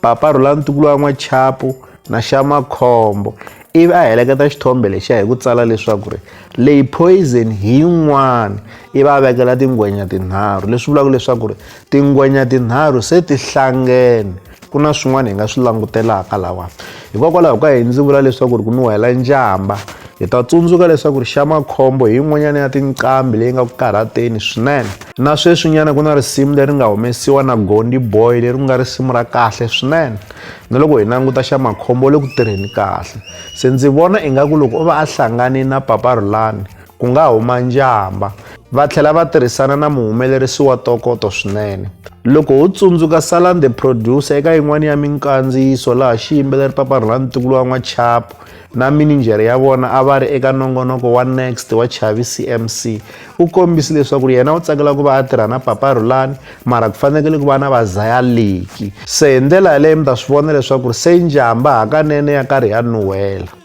Papa a rhula ntukulu wa n'wachapu na xamakhombo ivi a heleketa xithombe lexiya hi ku tsala leswaku ri leyi poison hi yin'wana ivi a vekela tingwenya tinharhu leswi vulaka leswaku ri tingwenya tinharhu se ti hlangene ku na swin'wana hi nga swi langutelaka lawani hikokwalaho ka yini ndzi vula leswaku ri ku nuhela njhamba hi ta tsundzuka leswaku ri xa makhombo hi yin'wanyana ya tinqambi leyi nga ku karhateni swinene na sweswinyana ku na risimu leri nga humesiwa na gondi boy leri ku nga risimu ra kahle swinene na loko hi languta xa makhombo le ku tirheni kahle se ndzi vona ingaku loko o va a hlangane na papa rhulani ku nga huma njhamba va tlhela va tirhisana na muhumelerisi wa tokoto swinene loko ho tsundzuka salan the producer eka yin'wana ya minkandziyiso laha xiyimbeleri paparhula ntukulu wa n'wachapo na mininjhere ya vona a va ri eka nongonoko wa next wa chavi cmc u kombisi leswaku ri yena u tsakela ku va a tirha na paparhulani mara ku fanekele ku va na vazayaliki se hi ndlela yaleyo mi ta swi vona leswaku ri se njhamba hakanene ya karhi ya nuhela